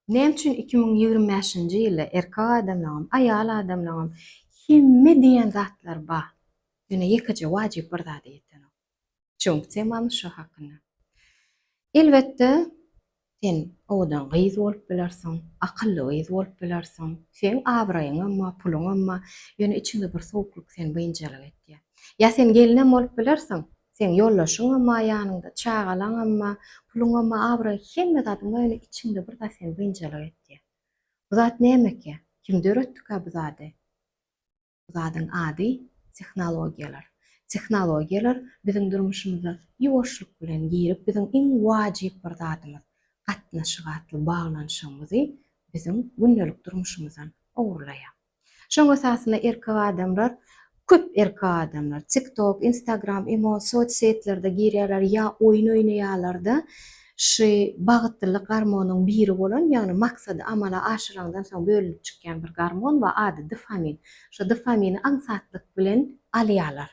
Näme üçin iki müň ýigrimi bäşinji ýylda erkek adamlaňam, aýal adamlaňam hemme diýen zatlar bar, ýöne ýekeje wajyp bir zada ýetenok. Çünki temamyz şo hakynda. Elbetde, sen owadan gyz bolup bilersiň, akylly gyz bolup bilersiň, seň abraýyňam bar, puluňam bar, ýöne içiňde bir sowuklyk seni biynjalyk etýär. Ýa sen gelinem bolup bilersiň, Seň ýoldaşyňam-a ýanyňda, çagalaňam-a, puluňam-a abraý, hemme zadyň boýuna içiňde bir zat seni biynjalyk etýär. Bu zat nämekä? Kim döretdikä bu zady? Bu zadyň ady tehnologiýalar. Tehnologiýalar biziň durmuşymyza ýuwaşlyk bilen girip, biziň iň wajyp bir zadymyz, gatnaşyk atly baglanyşygymyzy biziň gündelik durmuşymyzdan ogurlaýar. Şoň esasynda erkek adamlar, köp erkek adamlar, tik tok, instagram, imo, soc setlerde girýärler ýa oýun oýnaýarlarda şy bagytlylyk garmonyň biri bolan, ýagny maksady amala aşyraňdan soň bölünip çykýan bir garmon ba ady dfamin. Şo dfamini aňsatlyk bilen alýarlar.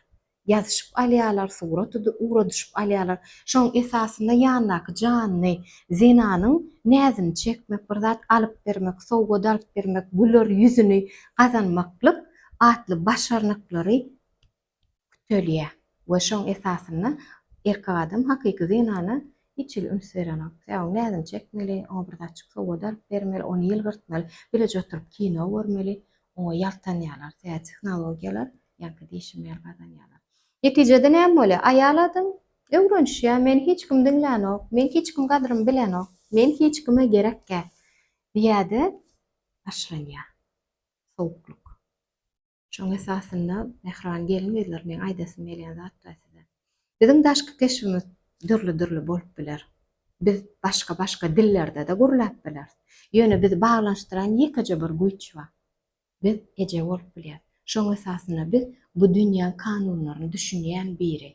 ýazyşyp alýarlar, surat ugradyşyp alýarlar. Şoň esasynda ýandaky janly zenanyň näzini çekmek, bir zat alyp bermek, sowgat alyp bermek, güler ýüzüni gazanmaklyk atly başarnyklary kütelýär we şoň esasynda erkek adam hakyky zenana Hiç hili üns berenok. Säwuň näzini çekmeli, oňa bir zat çyksa oda alyp bermeli, ony ýylgyrtmaly, bileje oturyp kino görmeli, oňa ýaltanýarlar, tä tehnologiýalar ýaňky dişi meýil gazanýarlar. Netijede näme bolýar? Aýal adam öwrenişýär, meni hiç kim diňlänok, meniň hiç kim gadrymy bilenok, men hiç kime gerekgä diýäde başlanýar sowuklyk. Şoň esasynda mähriban gelin-gyzlar meň aýdasym gelýän zatlar size. Biziň daşky keşbimiz dürli-dürli bolup biler. Biz başga-başga dillerde-de gürläp bileris. Ýöne bizi baglanyşdyran ýekeje bir güýç bar. Biz eje bolup bilýäris. Şoň esasynda biz bu dünýäň kanunlaryny düşünýän biri.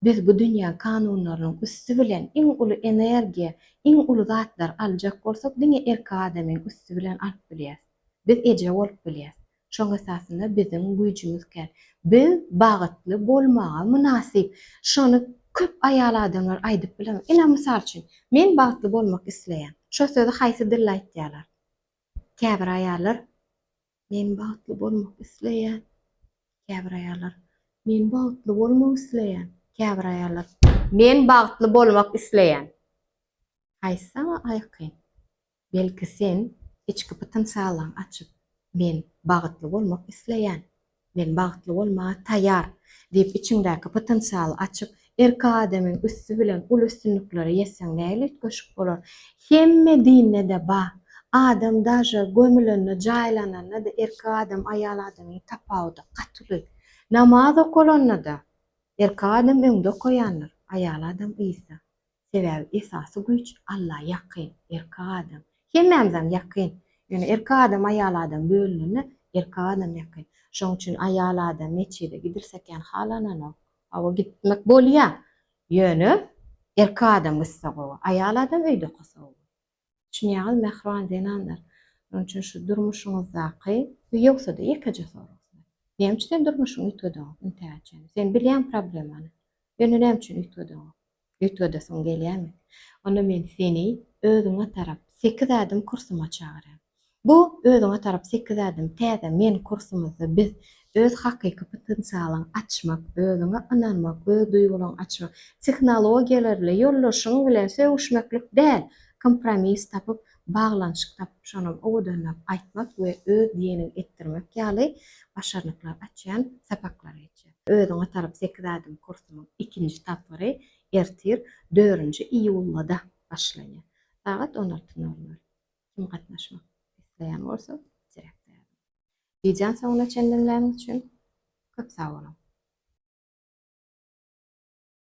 Biz bu dünýä kanunlarynyň üsti bilen iň uly energiýa, iň uly zatlary aljak bolsak diňe erkek adamyň üsti bilen alyp bilýäs. Biz eje bolup bilýäs. Şoň esasynda biziň güýjümiz kän. Biz bagytly bolmaga mynasyp. Şony köp aýal adamlar aýdyp bilemok. Ine mysal üçin, men bagytly bolmak isleýän. Şo sözi haýsy dilde aýtýarlar? Käbir aýallar Men bagtly bolmak isleýän Käbir aýallar Men bagtly bolmak isleýän Käbir aýallar Men bagtly bolmak isleýän Haýsy saňa aýkyn Belki sen içki pytynsaglygyň açyp Men bagytly bolmak isleýän Men bagtly bolmaga taýýar diýip içiňdäki pytynsaly açyp Erkek adamyň üsti bilen uly üstünliklere ýetseň nähili üýtgeşik bolar? Hemme dinde-de bar. Adam daže gömülende, jaýlananda-da erkek adam aýal adamyň tapawudy gaty uly. Namaz okalanda-da erkek adam öňde okaýandyr, aýal adam yzda. Sebäbi esasy güýç Alla ýakyn, erkek adam. Hemmämizem ýakyn. Ýöne erkek adam aýal adam bölünende erkek adam ýakyn. Şoň üçin aýal adam metjide gidilsekäm halananok. Hawa gitmek bolýar. Ýöne erkek adam gitse gowy. Aýal adam öýde otursa gowy. Düşünýäňizmi, mähriban zenanlar? Şonuň üçin şu durmuşyňyzdaky, bu ýogsa-da ýekeje sorag size. Näme üçin sen durmuşyňy üýtgedeňok intihä çenli? Sen bilýäňmi problemany? Ýöne näme üçin üýtgedeňok? Üýtgedesiň gelýärmi? Onda men seni özüňe tarap sekiz ädim kürsüme çagyrýan. Bu özüňe tarap sekiz ädim täze men kursumyzda biz öz hakyky potensialyňy açmak, özüňe ynanmak, öz duýgularyňy açmak, tehnologiýalar bilen, ýoldaşyň bilen sögüşmeklik däl, kompromis tapyp, baglanyşyk tapyp, şonam owadanlap aýtmak we öz diýeniňi etdirmek ýaly başarnyklary açýan sapaklar geçýär. Özüňe tarap sekiz ädim kursumyň ikinji tapgyry ertir, dördünji iýulda başlanýar. Sagat on alty nol nol. Kim gatnaşmak isleýän bolsa, direkte ýazyň. Wideony soňuna çendiňläniň üçin köp sag boluň!